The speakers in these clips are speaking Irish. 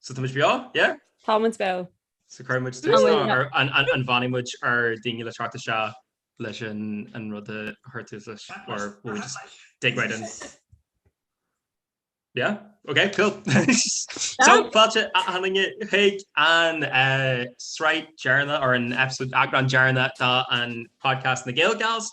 So táimid beo, yeah? Táimid beo. So cuirfidh muid tús nó an bhfanfaidh muid ar dhaoine le teacht isteach leis an rud a chur tús leis or will we just dig right in? Yeah? Ok, cool. So fáilte a dhaoine chuig an sraith dheireanna or an episode eagrán dheireanna de an Podcast na Gael Gals.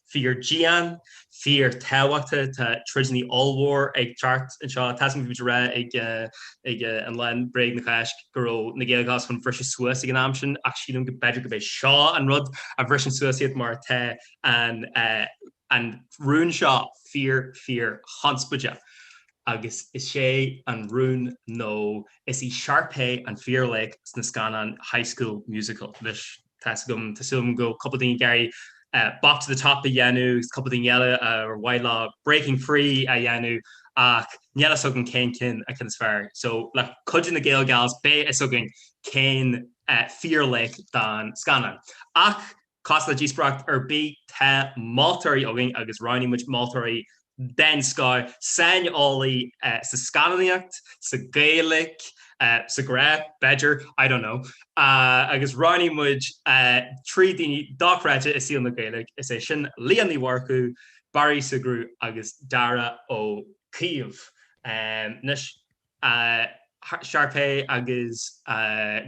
Fíor dian, fíor tábhachtach, tá troideannaí ollmhóra ag teacht anseo. Tá's againn ag rá ag an lá bréag na Cásca go raibh na Gael Gals chun briseadh suas ag an am sin ach sílim go b'fheidir gurb é seo an rud a bhriseann suas iad mar tá an rún seo fíor fíor chonspóideach agus is é an rún nó is í Sharpay an fíor laoch sna scannáin High School Musical, anois. Tá's agam, tá súil agam go bhfuil cúpla daoine ag iarraidh bop to the top a dhéanamh agus cúpla daoine eile ar mhaith leo breaking free a dhéanamh ach níl fhios agam cén ceann an ceann is fearr. So le cuidiú de na Gael Gals beidh fhios againn cén fíorlaoch don scannán. Ach cosúil le díospóireacht ar bith tá moltóirí againn agus roghnaigh muid moltóirí den scoth, saineolaí sa scannánaíocht, sa Ghaeilic, sa ghrá, b'fhéidir, I don't know, agus roghnaigh muid trí dhuine dochreidte i saol na Gaeilge, is é sin Leah Ní Mhurchú, Barry Ó Siochrú agus Darragh Ó Caoimh. Anois, Sharpay agus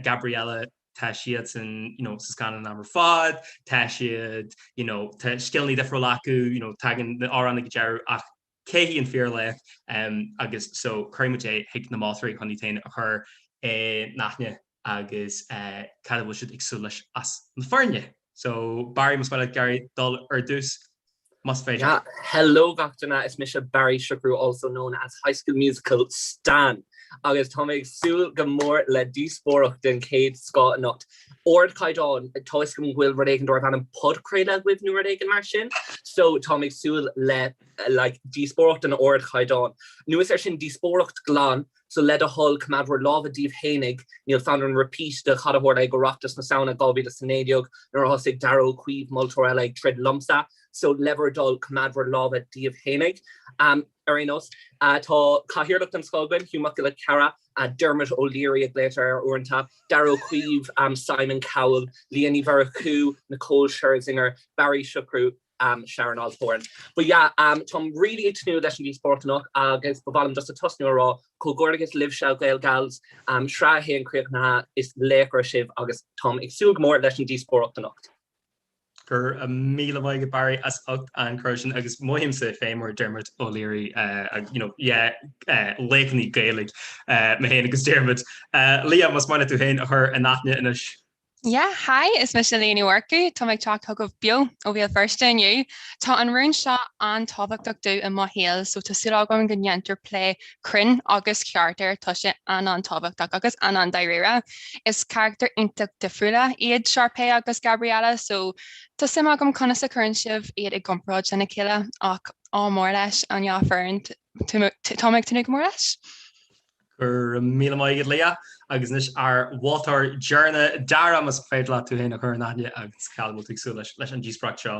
Gabriella. tá siadsan sa scannáin ar fad, tá siad, you know, tá scileanna difriúla acu, you know, tagann na hamhráin go deireadh ach cé hí an fíorlaoch? Agus so cuirfidh muid é chuig na moltóirí chun iad féin a chur in aithne agus cad atá siad ag súil leis as na foirne. So Barry, más maith leat ag iarraidh dul ar dtús. más féidir. Hello gach duine, is mise Barry Ó Siochrú also known as High School Musical Stan agus tá mé ag súil go mór le díospóireacht den chéad scoth anocht. Ardchaighdeán, toisc go bhfuil rud éigin darbh ainm podchraoladh agaibh nó rud éigin mar sin, so tá mé ag súil le like díospóireacht den ardchaighdeán. Anuas air sin díospóireacht glan So le do thoil, coimeád bhur lámha daoibh fhéinig, níl fonn orm repeat de cad a tharla ag Oireachtas na Samhna 2019 nuair a thosaigh Darragh Ó Caoimh, moltóir eile, ag troid liomsa. So le bhur dtoil, coimeád bhur lámha daoibh fhéinig. Ar aon nós, tá cathaoirleach den scoth againn, Hugh Mac Giolla Chearra, Dermot O'Leary a ghlaotar air uaireanta, Darragh Ó Caoimh, Simon Cowell, Leah Ní Mhurchú, Nicole Scherzinger, Barry Ó Siochrú, am Sharon Osbourne. But yeah am táim really ag tnúth leis an díospóireacht anocht agus ba mhaith liom just a tosnú a rá comhghairdeachas libhse Gael Gals am sraith a haon críochnaithe is laochra sibh agus táim ag súil go mór leis an díospóireacht anocht. Go raibh míle maith agat Barry as ucht an cur sin agus mothaímse féin mar Dermot O'Leary you know yeah laochainí Gaeilge mé féin agus Dermot. Liadh más maith leat tú féin a chur in aithne anois. Yeah, hi, is mise Liadh Ní Mhurchú, táim ag teacht chugaibh beo ó Bhéal Feirste inniu. Tá an rún seo an-tábhachtach domh i mo shaol, so tá súil agam go ndéantar plé cruinn agus ceart air, tá sé an-an-tábhachtach agus an-an-dáiríre. Is carachtair iontach difriúla iad Sharpay agus Gabriella, so tá suim agam conas a chuireann sibh iad i gcomparáid lena chéile, ach ádh mór leis an dá fhoireann, táim ag tnúth go mór leis. Go raibh míle maith agat Liadh. Agus anois ár mholtóir deireanach Dara, más féidir leat tú féin a chur in aithne agus cad a bhfuil tú ag súil leis leis an díospóireacht seo?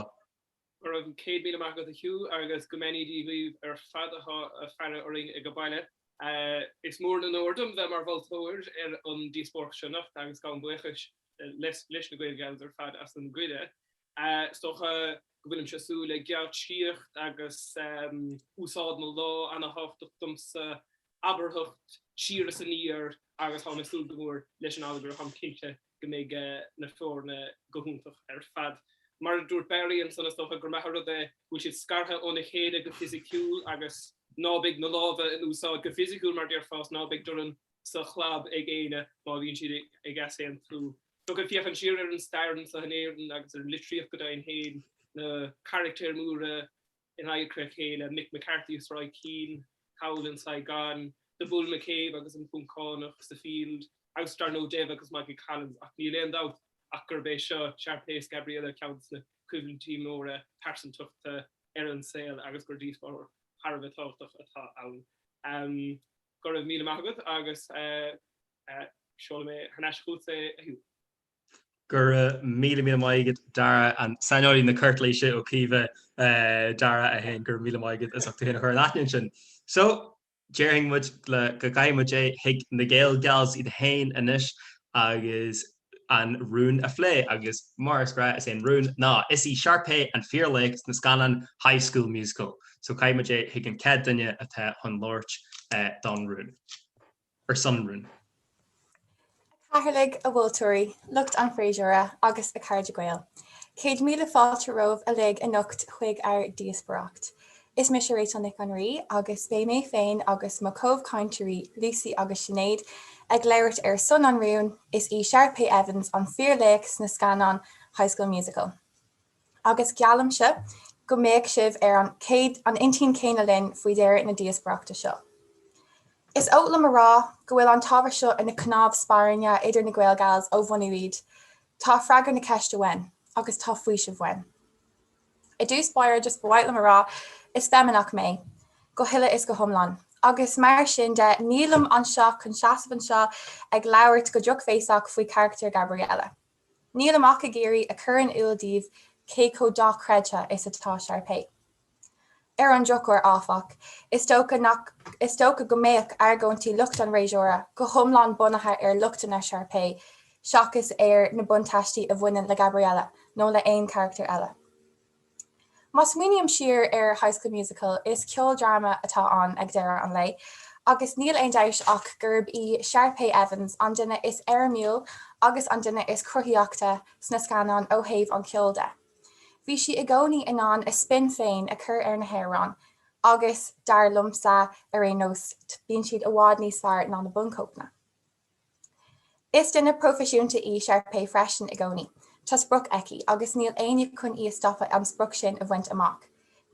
Go raibh céad míle maith agat a Hugh agus go mbeannaí Dia dhaoibh ar fad atá ag faire orainn ag baile. Is mór an onóir dom bheith mar mholtóir ar an díospóireacht seo anocht agus gabhaim buíochas leis na Gael Gals ar fad as an gcuireadh. Is dócha go bhfuilimse ag súil le geáitsíocht agus úsáid na lámh an-tábhachtach domsa, abarthacht siar is aniar agus táim ag súil go mór leis an allagar táim cinnte go mbeidh na foirne go hiontach ar fad. Mar a dúirt Barry ansan, is dócha gur maith an rud é go bhfuil siad scartha óna chéile go fisiciúil agus ná beidh na lámha in úsáid go fisiciúil mar déarfá is ná beidh dorn sa chlab ag éinne má bhíonn siad ag easaontú. So ag féachaint siar ar an stair anseo in Éirinn agus ar an litríocht go deimhin féin na carachtair mhóra in adharca a chéile, Mick McCarthy is Roy Keane, thall in Saigon, The Bull McCabe agus an Poncánach sa Field, agus dar ndóigh Dev agus Michael Collins ach níl aon dabht ach gurb é seo Sharpay is Gabriella ceann de na coimhlintí móra pearsantachta ar an saol agus gur díospóireacht thar a bheith tábhachtach atá ann. Go raibh míle maith agat agus seolfaidh mé thar n-ais chugat é a Hugh. Go raibh míle míle maith agat Dara an saineolaí na Cartlaoise Ó Caoimh, Dara 1, go raibh míle maith agat as ucht tú féin a chur in aithne ansin. So, déarfainn muid go gcaithfidh muid é chuig na Gael Gals iad féin anois agus an rún a phlé agus, mar is gnáth, is é an rún ná, Is í Sharpay an fíorlaoch sna scannáin High School Musical so caithfidh muid é chuig an chéad duine atá chun labhairt don rún. Ar son rún. A Chathaoirligh, a mholtóirí, lucht an fhreasúra agus a chairde Gael. Céad míle fáilte romhaibh uilig anocht chuig ár ndíospóireacht. Is mise Rachel Nic an Rí agus beidh mé féin agus mo comhchainteoirí Lucy agus Sinéad ag labhairt ar son an rúin Is í Sharpay Evans an fíorlaoch sna scannáin High School Musical. Agus geallaimse go mbeidh sibh ar an an intinn céanna linn faoi dheireadh na díospoireachta seo. Is oth liom a rá go bhfuil an t-ábhar seo ina cnámh spairne idir na GaelGals ó bhunú iad. Tá freagra na ceiste uaim, agus tá faoiseamh uaim. I dtús báire, just ba mhaith liom a rá, is feimineach mé, go huile is go hiomlán. Agus mar sin de, nílim anseo chun seasamh anseo ag labhairt go drochbhéasach faoi charachtar Gabriella. Nílim ach ag iarraidh a chur in iúl daoibh cé chomh dochreidthe is atá Sharpay. Ar an drochuair, áfach, is dócha nach is dócha go mbeidh argóintí lucht an fhreasúra go hiomlán bunaithe ar lochtanna Sharpay seachas ar na buntáistí a bhaineann le Gabriella nó le haon charachtar eile. Má smaoiním siar ar High School Musical, is ceoldráma atá ann ag deireadh an lae agus níl aon dabht ach gurb í Sharpay Evans an duine is éirimiúil agus an duine is cruthaíochta sna scannáin ó thaobh an cheoil de. Bhí sí i gcónaí in ann a spin féin a chur ar na hamhráin agus, dar liomsa ar aon nós, bíonn siad i bhfad níos fearr ná na bunchóipeanna. Is duine proifisiúnta í Sharpay freisin i gcónaí. Tá sprioc aici agus níl éinne chun í a stopadh an sprioc sin a bhaint amach.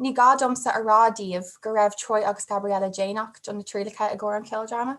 Ní gá domsa a rá daoibh go raibh Troy agus Gabriella déanach do na trialacha i gcomhair an cheoldráma.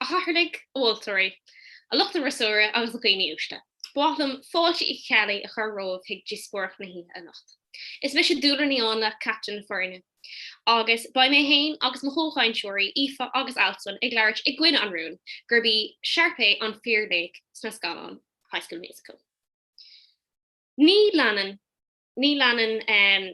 A chathaoirligh, a mholtóirí, a lucht an fhreasúra agus a dhaoine uaisle. Ba mhaith liom fáilte Uí Cheallaigh a chur romhaibh chuig díospóireacht na hoíche anocht. Is mise Dúlra Ní Áinle, captaen na foirne, agus beidh mé féin agus mo chomhchainteoirí Aoife agus Alswyn ag labhairt i gcoinne an rúin gurb í Sharpay an fíor-laoch sna scannáin High School Musical. Ní leanann. Ní leanann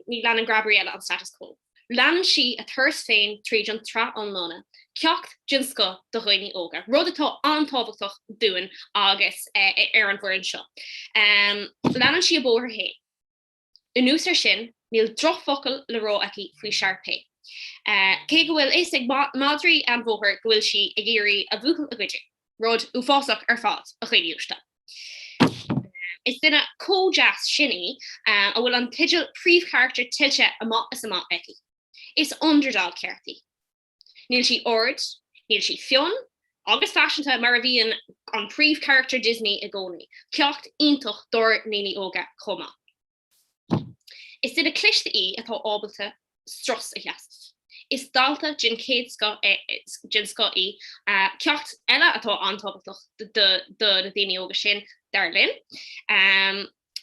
Ní leanann Gabriella an status quo. Leanann sí a turas féin tríd an tsraith iomlán, ceacht den scoth do dhaoine óga, rud atá an-tábhachtach dúinn agus ar an bhfoireann seo. Leanann sí a bóthar féin. Anuas air sin, níl drochfhocal le rá aici faoi Sharpay, cé go bhfuil fhios ag madraí an bhóthair go bhfuil sí ag iarraidh a bhuachaill a ghoideadh, rud uafásach ar fad, a dhaoine uaisle. Is duine chomh deas sin í a bhfuil an teideal príomhcharachtar tuillte amach is amach aici. Is underdog ceart í. Níl sí ard, níl sí fionn agus faiseanta mar a bhíonn an príomhcharachtar Disney i gcónaí, ceacht iontach dár ndaoine óga chomh maith. Is duine cliste í atá ábalta strus a sheasamh. Is dalta den chéad den scoth í, ceacht eile atá an-tábhachtach do na daoine óga sin, dar linn,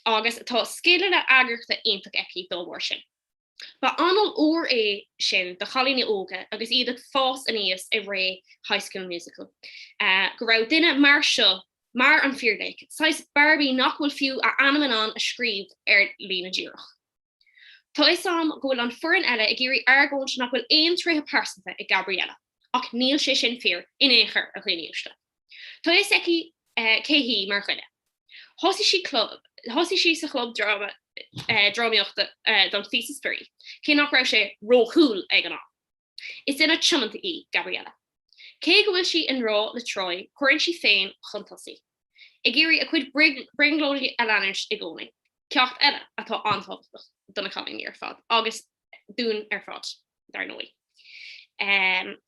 agus tá scileanna eagrachta iontach aici dá bharr sin. Ba anáil úr é sin do chailíní óga agus iad ag fás aníos i ré High School Musical, go raibh duine mar seo, mar an fíorlaoch, saghas Barbie nach bhfuil fiú a ainm in ann a scríobh ar líne díreach. Tá 'fhios a'm go bhfuil an foireann eile ag iarraidh argóint nach bhfuil aon tréithe pearsanta ag Gabriella, ach níl sé sin fíor in aon chor, a dhaoine uaisle. Tá fhios aici cé hí mar dhuine. Thosaigh sí sa chlub drámaíochta don phíosa spraoi, cé nach raibh sé ró-'cool' ag an am. Is duine tiomanta í Gabriella. Cé go bhfuil sí i ngrá le Troy, cuireann sí féin chun tosaigh, ag iarraidh a cuid brionglóidí a leanúint i gcónaí, ceacht eile atá an-tábhachtach do na cailíní ar fad agus dúinn ar fad, dar ndóigh.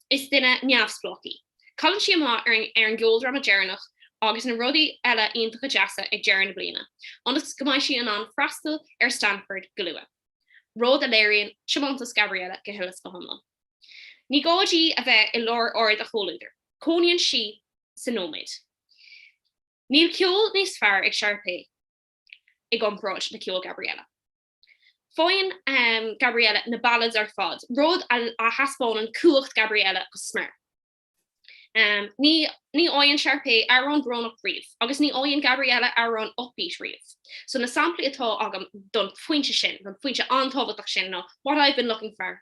Is duine neamhspleách í. Cailleann sí amach ar an gceoldráma deireanach agus na rudaí eile iontacha deasa ag deireadh na bliana, ionas go mbeidh sí in ann freastal ar Stanford go luath, rud a léiríonn tiomantas Gabriella go huile is go hiomlán. Ní gá di a bheith i lár aird a comhluadair, cónaíonn sí sa nóiméad. Níl ceol níos fearr ag Sharpay i gcomparáid le ceol Gabriella. Faigheann Gabriella na ballads ar fad, rud a thaispeánann cumhacht Gabriella go smior. Ní fhaigheann Sharpay amhrán brónach riamh agus ní fhaigheann Gabriella amhrán upbeat riamh. So na samplaí atá agam don phointe sin, don phointe an-tábhachtach sin ná, 'What I've been looking for',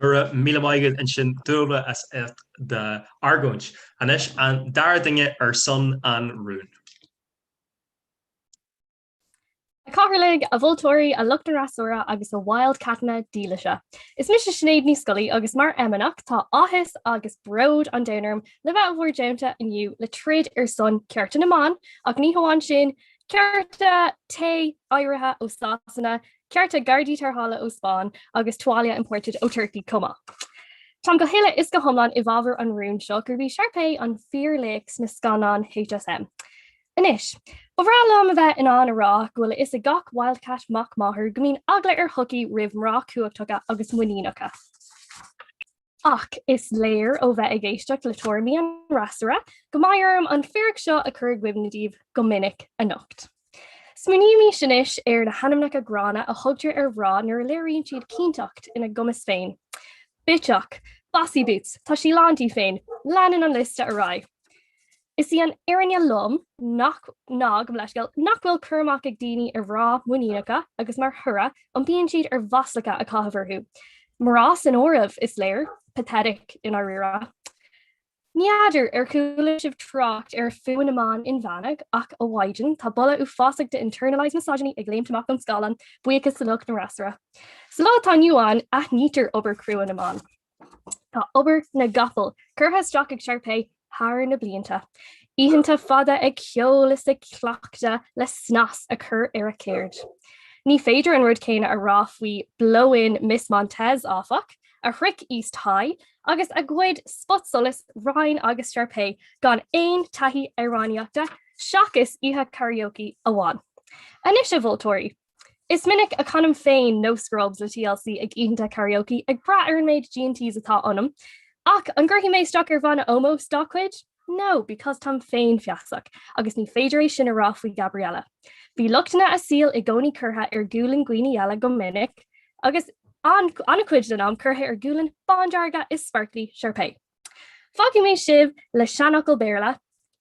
Go raibh míle maith agat ansin Dúibe as ucht d'argóint. Anois an dara duine ar son an rúin. A Chathaoirligh, a mholtóirí, a lucht an fhreasúra agus a Wildcatanna dílise. Is mise Sinéad Ní Scolaí agus mar fheimineach tá áthas agus bród an domhain orm le bheith i bhur dteannta inniu le troid ar son cearta na mban ach ní hamháin sin, cearta tae, áirithe ó Sasana, Cearta, Gardaí tarrthála ó Spáinn agus tuáillí imported ó Turcaí chomh maith. Táim go huile is go hiomlán i bhfabhar an rúin seo gurb í Sharpay an fíorlaoch sna scannáin HSM. Anois, ba bhreá liom a bheith in ann a rá go bhfuil a fhios ag gach Wildcat mac máthar go mbíonn eagla ar shochaí roimh mná cumhachtacha agus muiníneacha. Ach is léir ó bheith ag éisteacht le tuairimí an fhreasúra go mbeidh orm an fíric seo a chur i gcuimhne daoibh go minic anocht. Smaoinímis anois ar na hainmneacha gránna a thugtar ar mhná nuair a léiríonn siad cinnteacht ina gcumas féin. Bitseach! Bossy boots! Tá sí lán di féin! Leanann an liosta ar aghaidh. Is í an fhirinne lom nach ná go mb- leithscéal nach bhfuil cur amach ag daoine ar mhná muiníneacha agus mar thoradh iompaíonn siad ar mhaslacha a chaitheamh orthu, mná san áireamh, is léir. Pathetic, i ndáiríre. N'fheadar ar chuala sibh trácht ar fuath na mban inmheánach ach a Mhaighdean, tá boladh uafásach de internalized misogyny ag léimt amach ón scáileán, buíochas le lucht an fhreasúra. Sa lá atá inniu ann aithnítear obair chrua na mban. Tá obair na gcapall curtha isteach ag Sharpay thar na blianta, oícheanta fada ag ceol is ag cleachtadh le snas a chur ar a céird. Ní féidir an rud céanna a rá faoi Blow-In Miss Montez, áfach, a shroich East High agus a ghoid spotsolas Ryan agus Sharpay gan aon taithí amhránaíochta seachas oíche karaoke amháin. Anois, a mholtóirí! Is minic a chanaim féin No Scrubs le TLC ag oícheanta karaoke ag brath ar an méid G&Ts atá ionam, ach an gcuirfidh mé isteach ar bhanna ómóis dá gcuid? No, because táim féin feasach agus ní féidir é sin a rá faoi Gabriella. Bhí lochtanna a saoil i gcónaí curtha ar ghualainn dhaoine eile go minic agus an-chuid den am curtha ar ghuaillí bándearga is sparkly Sharpay. Fágfaidh mé sibh le seanfhocal Béarla,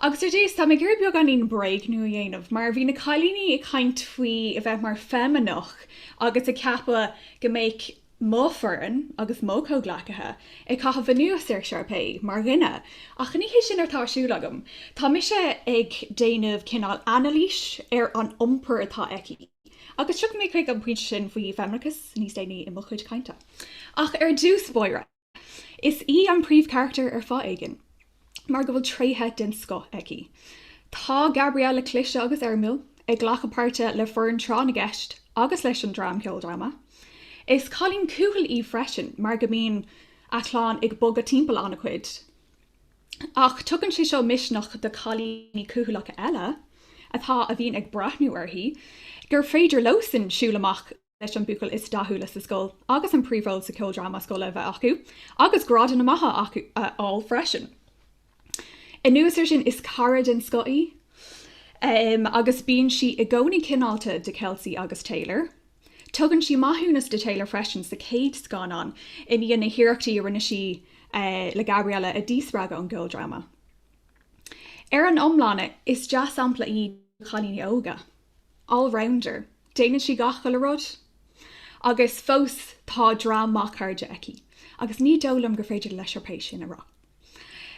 Agus ar dtús, tá mé ag iarraidh beagáinín bréagnú a dhéanamh, mar bhí na cailíní ag caint faoi a bheith mar fheimineach agus ag ceapadh go mbeadh mo foireann agus mo chomhghleacaithe ag caitheamh anuas ar Sharpay mar dhuine, ach ní hé sin atá ar siúl agam. Tá mise ag déanamh cineál anailís ar an iompar atá aici, agus tiocfaidh mé chuig an pointe sin faoi fheimineachas níos déanaí i mo chuid cainte. Ach ar dtús, Máire. Is í an príomhcharachtar ar fáth éigin mar go bhfuil tréithe den scoth aici. Tá Gabriella cliste agus éirimiúil, ag glacadh páirte le foireann tráth na gceist agus leis an dream ceoldráma. Is cailín cúthail í freisin mar go mbíonn a clann ag bogadh timpeall an-chuid. Ach tugann sé seo misneach do cailíní cúthalacha eile atá a bhíonn ag breathnú uirthi gur féidir leosan siúl amach. leis an buachaill is dathúla sa scoil agus an príomhról sa cheoldráma scoile a bheith acu agus grádanna maithe a fháil freisin. Anuas air sin, is cara den scoth í agus bíonn sí i gcónaí cineálta do Kelsi agus Taylor. Tugann sí maithiúnas do Taylor freisin sa chéad scannán i ndiaidh na hiarrachtaí a rinne sí le Gabriella a dhíspreagadh ón gceoldráma. Ar an iomlán, is dea-shampla í do chailíní óga. allrounder, déanann sí gach uile rud agus fós tá dream maith cairde aici agus ní dóigh liom gur féidir le Sharpay sin a rá.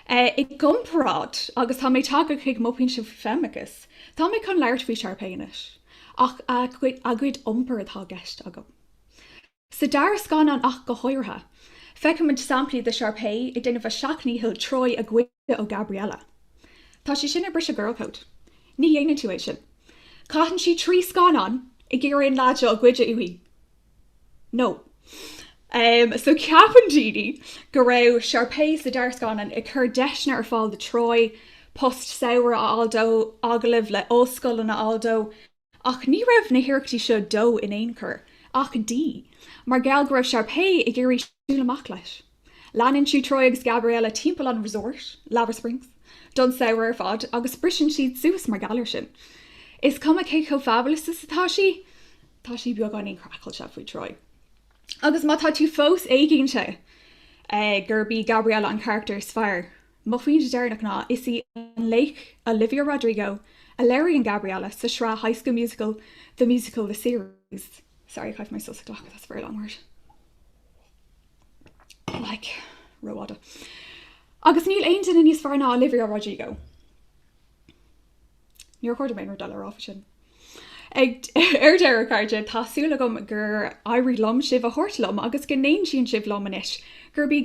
I gcomparáid, agus tá mé tagtha chuig mo pointe faoi fheimineachas, tá mé chun labhairt faoi Sharpay anois, ach a cuid iompair atá i gceist agam. Sa dara scannán ach go háirithe, feicimid samplaí de Sharpay ag déanamh a seacht ndícheall Troy a ghoid ó Gabriella. Tá sé sin ag briseadh girl code. Ní dhéanann tú é sin. Caitheann sí trí scannán ag iarraidh an leaid seo a ghoid uaithi. No. Em, so ceapann daoine go raibh Sharpay sa dara scannán ag cur deiseanna ar fáil do Troy, post samhraidh a fháil dó, agallamh le ollscoileanna a fháil dó, Ach ní raibh na hiarrachtaí seo dó in aon chor, ach di, mar gheall go raibh Sharpay ag iarraidh siúl amach leis. Leanann sí Troy agus Gabriella timpeall an resort, Lava Springs, don samhradh ar fad agus briseann siad suas mar gheall air sin. Is cuma cé chomh fabulous is atá sí, tá sí beagáinín craiceáilte faoi Troy. Agus má tá tú fós éiginnte gurb í Gabriella an carachtar is fearr, Mo phointe deireanach ná, is í an laoch Olivia Rodrigo a léiríonn Gabriella sa sraith High School Musical, The Musical, The Series. Sorry, I have my sauce clock, that's a very long word. Like rófhada. Agus níl aon duine níos fearr ná Olivia Rodrigo. Níor chóir dom níos mó a rá faoi sin. Ar deireadh, cairde, tá súil agam gur éirigh liom sibh a thabhairt liom agus go n-aontaíonn sibh liom anois gurb í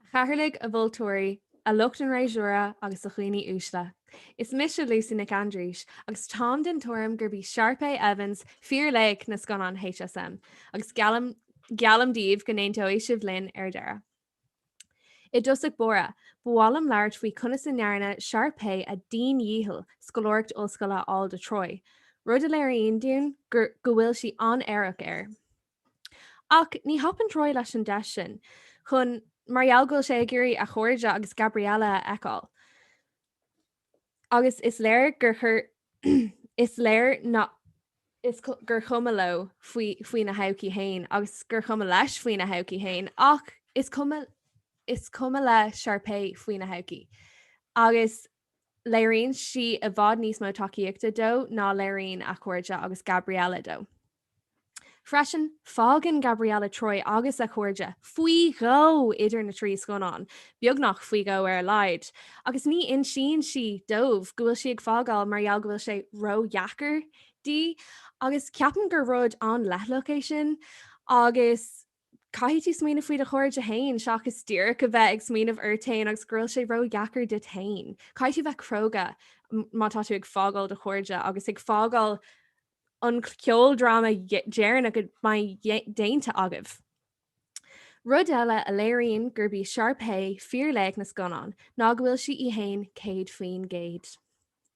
A chathaoirligh, a mholtóirí, a lucht an fhreasúra agus a dhaoine uaisle. Is mise Lucy Nic Aindrís agus táim den tuairim gurb í Sharpay Evans fíorlaoch na scannán HSM agus geallaim geallaim daoibh go n-aontóidh sibh linn ar deireadh. I dtosach báire, ba mhaith liom labhairt faoi conas a ndearna Sharpay a diandhícheall scoláireacht ollscoile a fháil do Troy, rud a léiríonn dúinn go bhfuil sí an-aireach air. Ach ní thapaíonn Troy leis an deis sin chun mar gheall go bhfuil sé ag iarraidh a chairde agus Gabriella a fheiceáil. Agus is léir gur gur is léir gur chuma leo faoina thodhchaí féin agus gur chuma leis faoina thodhchaí féin ach is cuma le Sharpay faoina thodhchaí. Agus léiríonn sí i bhfad níos mó tacaíochta dó ná léiríonn a chairde agus Gabriella dó. Freisin, fágann Gabriella Troy agus a cairde faoi dhó idir na trí scannán, beagnach faoi dhó ar a laghad, agus ní insíonn sí dóibh go bhfuil sí ag fágáil mar gheall go bhfuil sé ródheacair di, agus ceapaim gur rud an-leithleasach é sin agus caithfidh tú smaoineamh faoi do chairde féin seachas díreach a bheith ag smaoineamh ort féin agus go bhfuil sé ródheacair duit féin. Caithfidh tú bheith cróga má tá tú ag fágáil do chairde agus ag fágáil an ceoldráma dheireanach a mbeidh déanta agaibh. Rud eile a léiríonn gurb í Sharpay fíorlaoch na scannán ná go bhfuil sí í féin céad faoin gcéad.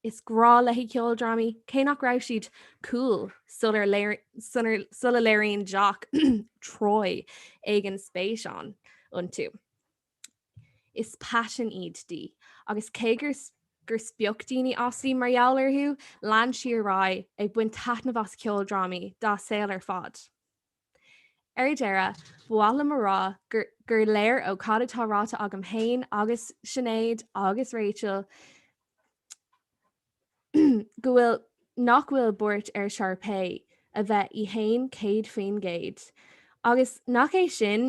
Is grá léi ceoldrámaí, cé nach raibh siad 'cool' sula léiríonn Jock Troy éigin spéis ann iontu. Is paisean iad di, agus cé gur gur spoch daoine as í mar gheall orthu, lean sí ar aghaidh ag baint taitnimh as ceoldrámaí dá saol ar fad. Ar deireadh, ba mhaith liom a rá gur léir ó cad atá ráite agam féin agus Sinéad agus Rachel go bhfuil nach bhfuil buairt ar Sharpay a bheith í féin 100%, agus nach é sin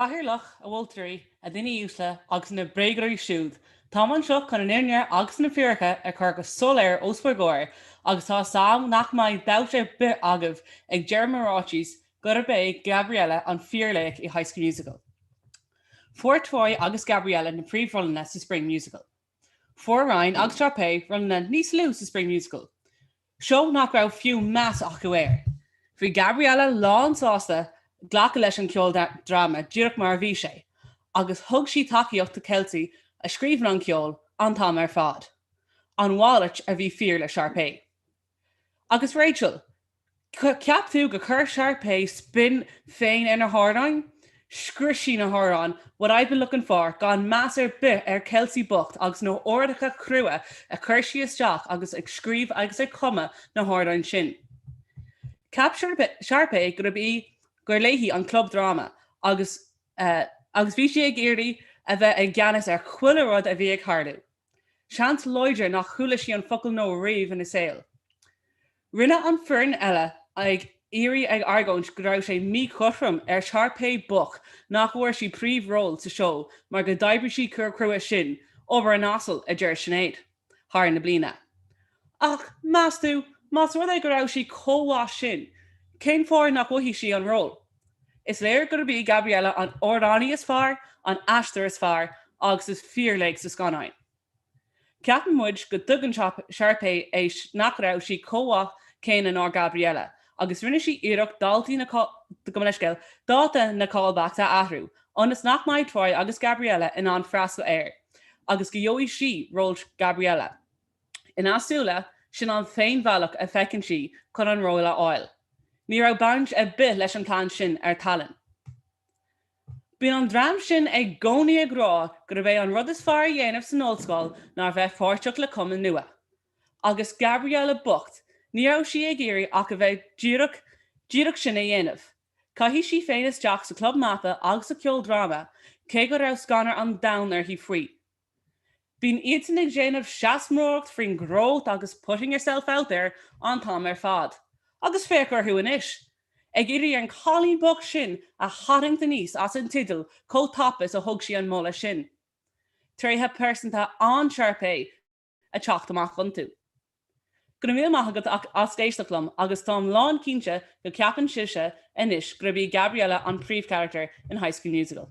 Cathaoirleach, A mholtóirí, a dhaoine uaisle, agus na bréagadóirí siúd, táim anseo chun an fhírinne agus na fíoracha a chur go soiléir os bhur gcomhair, agus tá's a'm nach mbeidh dabht ar bith agaibh ag deireadh mo ráitis gurb é Gabriella an fíorlaoch i High School Musical. Fuair Troy agus Gabriella na príomhrólanna sa Spring Musical. Fuair Ryan agus Sharpay rólanna níos lú sa Spring Musical, seó nach raibh fiú meas acu air. Bhí Gabriella lánsásta glacadh leis an ceoldráma díreach mar a bhí sé agus thug sí tacaíocht do Kelsey a scríobhann an ceol an t-am ar fad, an mhalairt a bhí fíor le Sharpay. Agus Rachel? Cheap tú gur chuir Sharpay spin féin ar na hamhráin? Scrios sí na hamhráin What I've Been Looking For gan meas ar bith ar Kelsey bocht agus na huaireacha crua a chuir sí isteach agus ag scríobh agus ag cumadh na hamhráin sin. Cheap Sharpay gurb í, gur léi an club dráma agus, eh, agus bhí sí ag iarraidh a bheith i gceannas ar chuile rud a bhí ag tharlú. Seans láidir nach chuala sí an focal 'no' riamh ina saol. Rinne an foireann eile ag iarraidh ag argóint go raibh sé míchothrom ar Sharpay bocht nach bhfuair sí príomhról sa seó mar go d'oibrigh sí chomh crua sin, obair an asail, a deir Sinéad, thar na bliana. Ach, meas tú, más rud é go raibh sí chomh mhaith sin, cén fáth nach bhfaighidh sí an ról? Is léir gurb í Gabriella an amhránaí is fearr, an aisteoir is fearr agus is fíorlaoch sa scannáin. Ceapann muid go dtuigeann Sharpay é nach raibh sí chomh mhaith céanna ná Gabriella agus rinne sí iarracht daltaí, gabh mo leithscéal, dáta na callbacks a athrú ionas nach mbeidh Troy agus Gabriella in ann freastal air agus go gheobhaidh sí ról Gabriella. Ina súile, sin an t-aon bhealach a feiceann sí chun an ról a fháil. Ní raibh baint ar bith leis an plean sin ar tallann. Bíonn an dream sin i gcónaí ag rá gurb é an rud is fearr a dhéanamh san ollscoil ná a bheith páirteach le cumann nua. Agus Gabriella bocht, ní raibh sí ag iarraidh ach a bheith díreach díreach sin a dhéanamh. Caithfidh sí féin isteach sa club mata agus sa cheoldráma, cé go raibh scanradh an domhain uirthi faoi. Bíonn iadsan ag déanamh seanmóireacht faoin growth agus putting yourself out there an t-am ar fad. Agus féach orthu anois. Ag iarraidh an cailín bocht sin a tharraingt aníos as an teideal chomh tapa is a thug sí an moladh sin. Tréithe pearsanta an-Sharpay ag teacht amach iontu. Go raibh míle maith agat as éisteacht liom agus táim lán cinnte go ceapann sibhse anois gurb í Gabriella an príomhcharactar in High School Musical.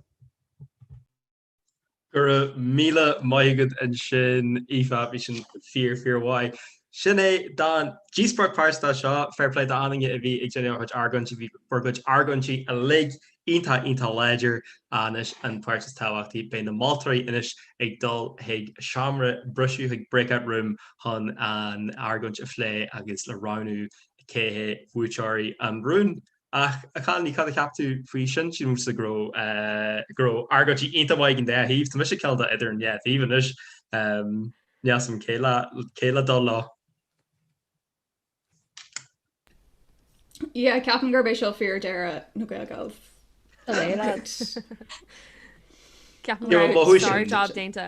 Go raibh míle maith agat ansin Aoife, bhí sin fíor fíor mhaith. Sin é don díospóireacht pearsanta seo, fair play d'achan duine a bhí ag déanamh a chuid argóintí, bhí bhur gcuid argóintí uilig iontach iontach láidir anois an páirt is tábhachtaí, beidh na moltóirí anois ag dul chuig seomra briseadh, chuig breakout room chun an argóint a phlé agus le roghnú cé hé buaiteoirí an rúin. Ach a chailíní, cad a cheap tú faoi sin? Sílimse go raibh, go raibh argóintí iontach maith ag an dá thaobh. Tá mise caillte idir an dá thaobh anois. Níl a fhios agam cé le, cé le dul leo. Yeah, ceapaim gurb é seo fíor deireadh na Gael Gals. Go léir leat. Ceapaim go raibh sárjab déanta.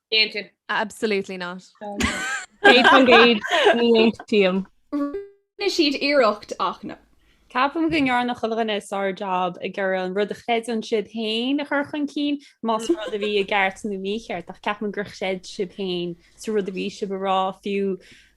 Déanta. Absolutely not. Gaeilge ní aontaím. Rinne siad iarracht ach na. Ceapaim go ndearna chuile dhuine sárjab ag iarraidh an rud a chreideann siad féin a chur chun cinn, más rud a bhí i gceart nó mícheart, ach ceapaim gur chreid sibh féin sa rud a bhí sibh a rá fiú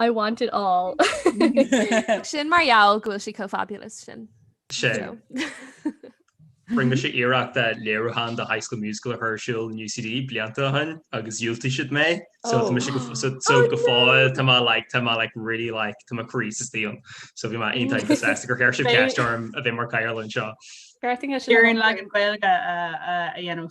I want it all. Sin mar gheall go bhfuil sí chomh fabulous sin. Sin. Rinne mise iarracht a léiriúchán de High School Musical a chur ar siúl in UCD blianta ó shin agus dhiúltaigh siad mé. So tá mise go f- so- so go fóill tá mé like tá mé like really like tá mo chroíse istigh ann. So bhí mé iontach sásta gur chuir sibh ceist orm a bheith mar cathaoirleach anseo. Garting is Iarrann leagan Gaeilge a- a- a dhéanamh.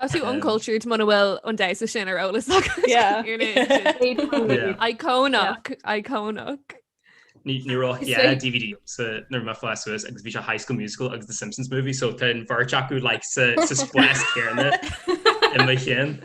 Tá tú uncultured muna bhfuil an damhsa sin ar eolas icónach icónach. Ní raibh DVD nuair a bhí mé ag fás suas agus bhí sé High School Musical agus the Simpsons movie so tá an bheirt acu like sa spás céanna in mo cheann.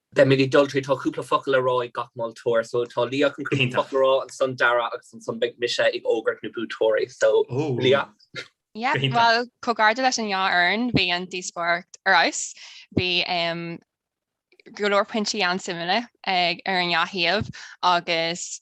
Beidh mé ag dul tríd, tá cúpla focal le rá ag gach moltóir, so tá Liadh chun cúpla focal a rá, ansan Darragh agus ansan beidh mise ag fógairt na buaiteoirí, so Liadh. Yeah, bhuel, comhgairdeas leis an dhá fhoireann, bhí an díospóireacht ar fheabhas, bhí go leor pointí an-suimiúla ar an dhá thaobh agus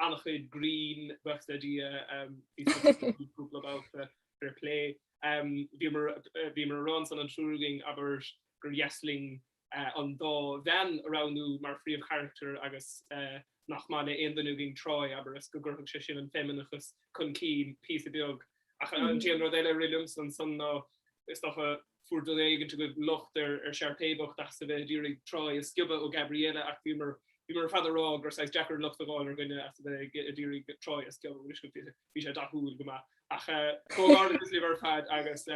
an-chuid grinn, bhí mé lúbtha ag gáire cúpla babhta, fair plé. Bhíomar ag rá ansan an triúr againn, abair, gur dheas linn an dá bhean a roghnú mar phríomhcharachtair agus nár mhaith le haon duine againn Troy, abair, is go gcuirfeadh sé sin an feimineachas chun cinn píosa beag. Ach an t-aon rud eile a rith liomsa ansan ná, is dócha, fuair duine éigint agaibh locht ar Sharpay bocht as a bheith ag iarraidh Troy a sciobadh ó Gabriella ach bhíomar ar fad ag rá gur saghas deacair locht a fháil ar dhuine as a bheith ag iarraidh Troy a sciobadh, bhí sé dathúil go maith ach comhghairdeas libh ar fad agus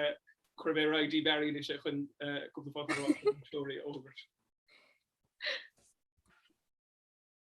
cuirfidh mé ar aghaidh go dtí Barry anois chun cúpla focal a rá faoin mbuaiteoir a fhógairt.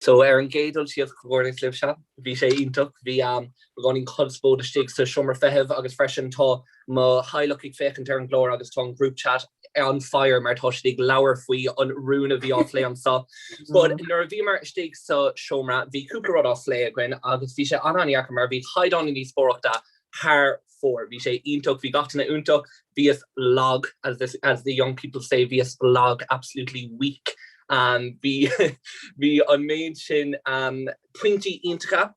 So, ar an gcéad dul síos, comhghairdeas libhse. Bhí sé iontach. Bhí beagáinín conspóid istigh sa seomra feithimh agus freisin tá mo theaghlach ag féachaint ar an gclár agus tá an group chat on fire mar tá siad ag labhair faoi an rún a bhí á phlé anseo. But nuair a bhíomar istigh sa seomra, bhí cúpla rud á phlé againn agus bhí sé an-an-dheacair mar bhí caighdeán na díospóireachta thar fóir. Bhí sé iontach, bhí gach duine iontach. Bhíos lag, as the young people say, bhíos lag, absolutely weak. Bhí, bhí an méid sin pointí iontacha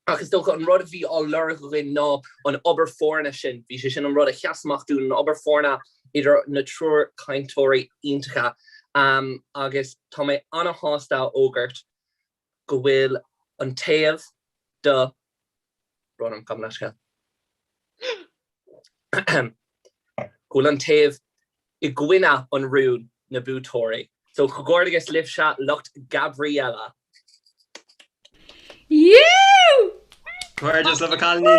ach is dócha an rud a bhí á lorg againn ná an obair foirne sin, bhí sé sin an rud a sheas amach dúinn, an obair foirne idir na triúr cainteoirí iontacha. Agus tá mé ana-shásta a fhógairt, go bhfuil an taobh tá brón orm, gabh mo leithscéal, ahem, go bhfuil an taobh i gcoinne an rúin na buaiteoirí. So comhghairdeas libhse, lucht Gabriella! Comhghairdeas libh a chailíní!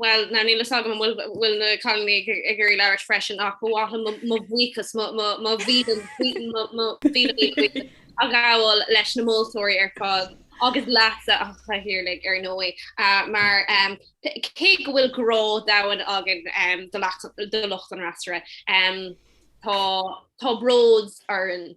Bhuel, níl a fhios agam an bhfuil na cailíní ag iarraidh labhairt arís freisin ach ba mhaith liom mo bhuíochas, mo mhíle buíochas a ghabháil leis na moltóirí ar fad agus leatsa, a Chathaoirligh, ar ndóigh, mar cé go bhfuil grá domhain againn do lucht an fhreasúra, tá bród orainn.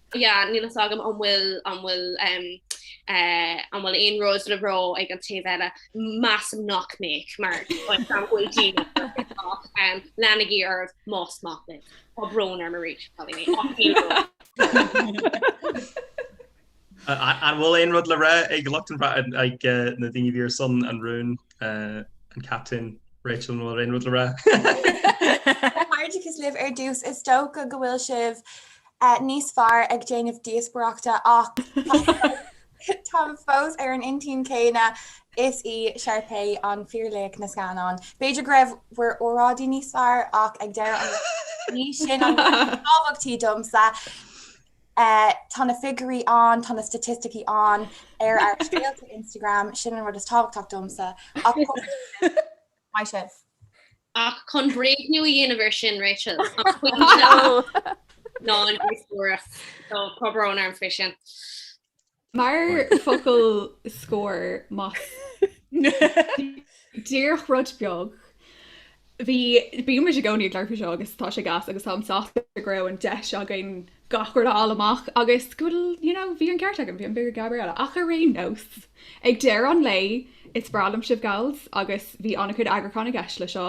Yeah, níl a fhios agam an bhfuil, an bhfuil, an bhfuil aon rud le rá ag an taobh eile. Measaim nach mbeadh, mar gan mhoill daoine ach leanaigí oraibh más maith libh. Tá brón orm arís, cailíní, ach níl a fhios agam. An bhfuil aon rud le rá ag lucht an, ag na daoine a bhí ar son an rúin, an captain, Rachel, an bhfuil aon rud le rá? Comhghairdeachas libh ar dtús, is dócha go bhfuil sibh níos fearr ag déanamh díospaireachta ach táim fós ar an intinn céanna, is í Sharpay an fíorlaoch na scannán. B'fhéidir go raibh bhur óráidí níos fearr ach ag deireadh an lae ní sin an rud is tábhachtaí domsa. Tá na figiúirí ann, tá na staitisticí ann ar ár scéalta Instagram, sin an rud is tábhachtach domsa ach. Maith sibh. Ach chun bréagnú a dhéanamh ar sin, Rachel, an cuimhin leat ná an díospóireacht? So, tá brón orm faoi sin. Mar focal scóir, más díreach rud beag. Bhí, bíonn muid i gcónaí ag labhairt faoi seo agus tá sé gas agus táim sásta go raibh an deis againn, gach rud a fháil amach agus go bhfuil you know bhí an ceart agam, bhí an bua ag Gabriella ach ar aon nós ag deireadh an lae is breá liom sibh gals agus bhí an-chuid eagrúcháin i gceist le seo.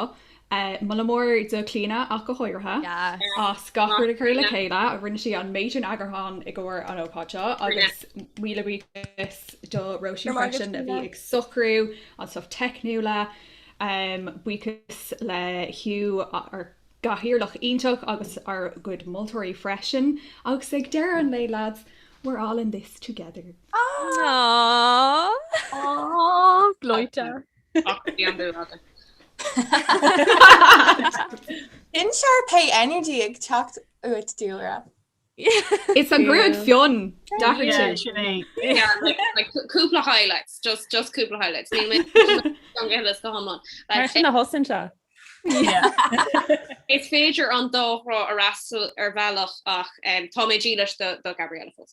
Moladh mór do Clíodhna ach go háirithe Yes. as gach rud a chur le chéile, rinne sí an méid sin eagrúcháin i gcomhair an ócáid seo agus míle buíochas do Róisín freisin a bhí ag socrú an stuff teicniúla, buíochas le Hugh, gcathaoirleach iontach agus ár gcuid moltóirí freisin. Agus ag deireadh an lae, lads, we're all in this together! Aww! Gleoite! An Sharpay energy ag teacht uait, Dúlra. It's the gruaig fionn! Dhathaigh tú! Yeah, sin é. Cúpla highlights, just cúpla highlights. Níl mé ag géilleadh go hiomlán. Mar sin a thosaíonn sé. Is féidir an dá thrá a fhreastal ar bhealach ach tá mé dílis do Gabriella fós.